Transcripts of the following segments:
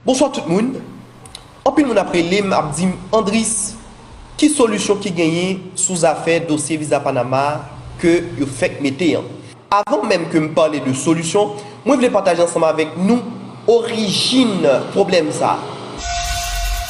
Bonswa tout moun, anpil moun ap relem ap dim Andris ki solisyon ki genyen sou zafè dosye viza panama ke yo fèk mete an. Avan menm ke m pale de solisyon, mwen vle pataje ansanm avèk nou orijin pwoblèm sa.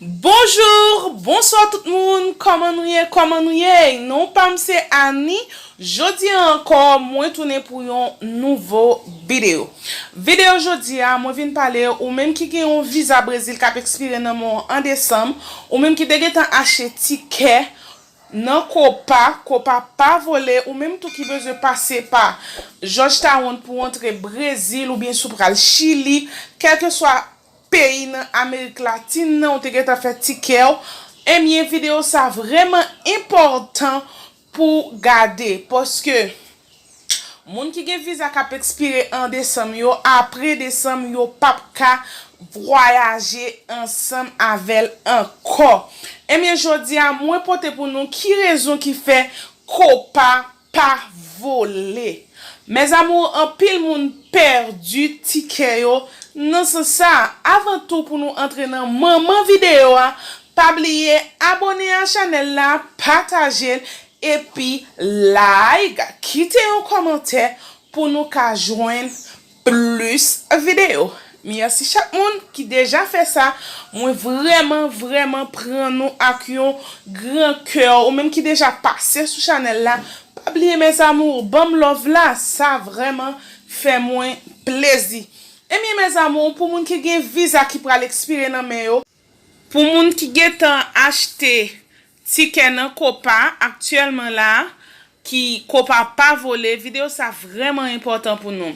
Bonjour Bonswa tout moun Kòman nou ye Kòman nou ye Non pam se Annie Jodi an ankò mwen tounen pou yon nouvo bideo Video jodi a mwen vin pale ou menm ki gen yon viza brezil kap ekspire nan men w an desanm ou menm ki te gentan achte tikè nan copa copa pa vole ou menm tou ki bezwen pase pa jòj tawonn pou w antre brezil oubyen si w pral chili kèlkeswa peyi nan amerik latin nan ou te gentan fè ti kèw ebyen video sa vrèman enpòtan pou gade paske moun ki gen viza kap ekspire an desanm yo apre desanm yo pap ka vwayaje ansanm avèl ankò ebyen jodi a mwen pote pou nou ki rezon ki fè copa pa vole. Mes amours anpil moun pèdi tikè yo nan sans sa avan tou pou nou antre nan manman video a pa bliye abone a chanèl la patajel epi like kite yon kòmantè pou nou ka jwenn Plus video. Merci chak moun ki deja fè sa, mwen vrèman vrèman pran nou ak yon gran kè ou menm ki deja pase sou chanèl la pa bliye mes amours banm love la sa vrèman fè mwen plezi ebyen mes amours pou moun ki gen viza ki pral ekspire nan men yo Pou moun ki gentan achte tikè nan Copa aktyèlman la ki Copa pa vole video sa vrèman enpòtan pou nou.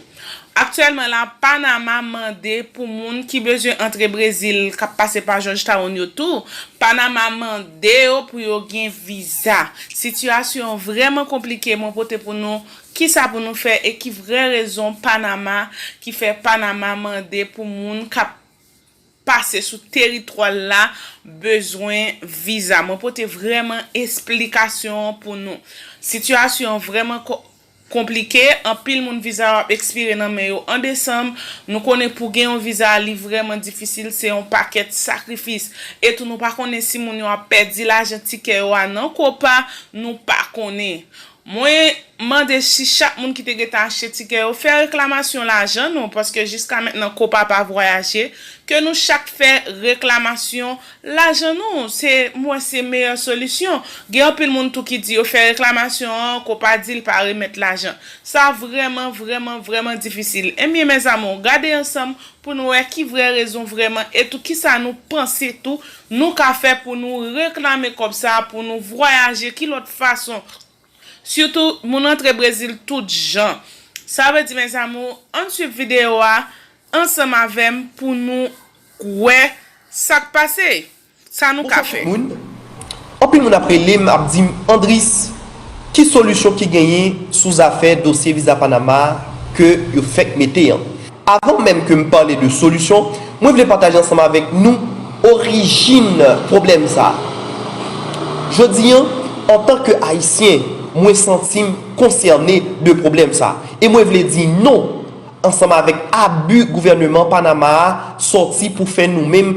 Aktyèlman la Panama mande pou moun ki bezwen antre Brezil kap pase pa Georgetown yo tou Panama mande yo pou yo gen viza. Sitiyasyon vrèman konplike mwen pote pou nou kisa pou nou fè e ki vrè rezon Panama ki fè Panama mande pou moun kap pase sou teritwa l la bezwen viza. Mwen pote vrèman esplikasyon an pou nou. Sitiyasyon an vrèman konplike, anpil moun viza yo ap ekspire nan men yo an desanm, nou konnen pou gen yon viza li vrèman difisil se yon pakèt sakrifis, etou nou pa konnen si moun yo ap pèdi lajan tikè yo a nan Copa, nou pa konnen. Mwen Mande si chak moun ki te gentan achte tikè yo fè reklamasyon lajan nou paske jiska mentnan Copa pa vwayaje ke nou chak fè reklamasyon lajan nou se m wè se meyè solisyon gen anpil moun tou ki di yo fè reklamasyon an Copa di l pa remèt lajan sa vrèman vrèman vrèman difisil ebyen mes amours gade ansanm pou nou wè ki vrè rezon vrèman e tou kisa nou panse tou Nou ka fè pou nou reklame kòb sa pou nou vwayaje ki lòt fason sitou moun antre brezil tout jan sa vle di mes amour ann swiv video a ansanm avèm pou nou k wè sak pase sa nou Ou ka fè. fè tout moun. Anpil moun ap rele m ap di m Andris, ki solisyon ki genyen sou zafè dosye viza Panama a ke yo fèk mete an? Avan menm ke m pale de solisyon, mwen vle pataje ansanm avèk nou orijin pwoblèm sa a. Jodi an, antan ke Ayisyen, mwen santi m konsène de pwoblèm sa a e mwen vle di non ansanm avèk abi gouvèneman Panama a sòti pou fè nou menm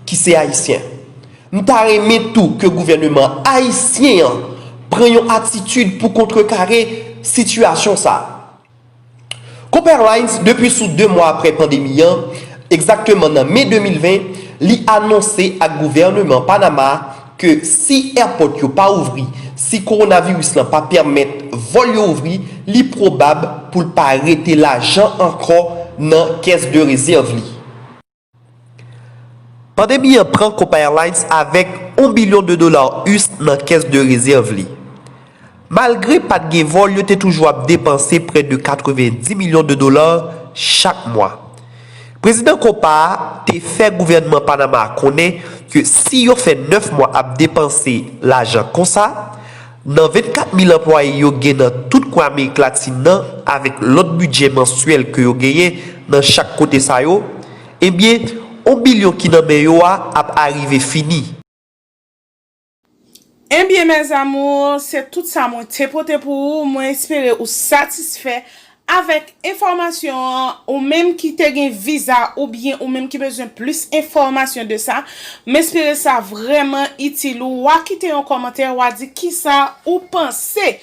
ki se Ayisyen. M ta renmen tou ke gouvèneman ayisyen an pran yon atitid pou kontrekare sitiyasyon sa. Coop Airlines depi sou 2 mwa aprè pandemi an, egzakteman nan me 2020, li anonse ak gouvèneman Panama ke si èpòt yo pa ouvri, si kowonaviris lan pa pèmèt vòl yo ouvri, li pwobab pou l pa rete lajan ankò nan kès de rezèv li. Pandemi an pran Copa Airlines avèk on bilyon de dola us nan kès de rezèv li. Malgre pat gen vòl yo te toujou ap depanse prè de 90 milyon de dola chak mwa. Prezidan Copa a te fè gouvènman Panama a konnen ke si yo fè 9 mwa ap depanse lajan konsa, Nan 24 mil anplwaye yo gen nan tout kwen Amerik Latin nan avèk lòt bidjè mansyèl ke yo genyen nan chak kote sa yo, ebyen, on bilyon ki nan men yo a ap arive fini. Ebyen mes amours, se tout sa mwen te pote pou ou, mwen espere ou satisfè Avèk enfòmasyon an, ou menm ki te gen viza oubyen ou menm ki bezwen plis enfòmasyon de sa, m espere sa vrèman itil ou, wa kite yon kòmantè wa di kisa ou panse.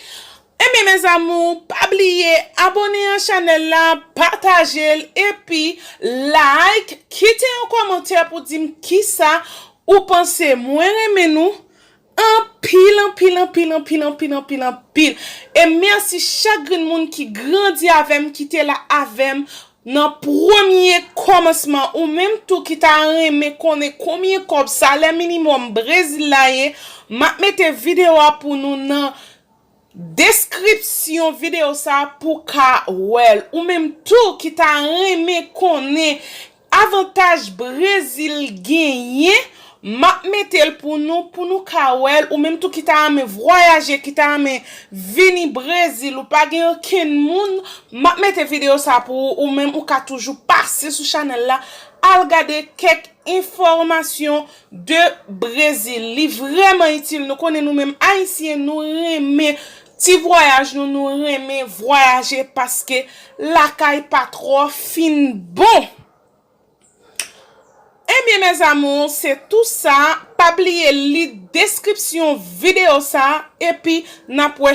Enben mes amours, pa bliye abone a chanèl la, pataje l epi like, kite yon kòmantè pou di m kisa ou panse. Mwen renmen nou. Anpil anpil anpil anpil anpil anpil anpil e mèsi chak grenn moun ki grandi avèm ki te la avèm nan premye kòmansman ou menm tou ki ta renmen konnen konbyen kòb salè minimòm brezil la ye map mete video a pou nou nan Deskripsyon videyo sa pou ka wèl ou menm tou ki ta renmen konnen avantaj brezil genyen map metel pou nou pou nou ka wèl ou menm tou ki ta renmen vwayaje ki ta renmen vini brezil ou pa gen okenn moun map mete videyo sa pou ou ou menm ou ka toujou pase sou chanèl la al gade kèk enfòmasyon de Brésil li vrèman itil nou konnen nou menm ayisyen nou renmen ti vwayaj nou nou renmen vwayaje paske lakay pa trò fin bon ebyen mes amours se tou sa pa bliye li deskripsyon video sa epi nap wè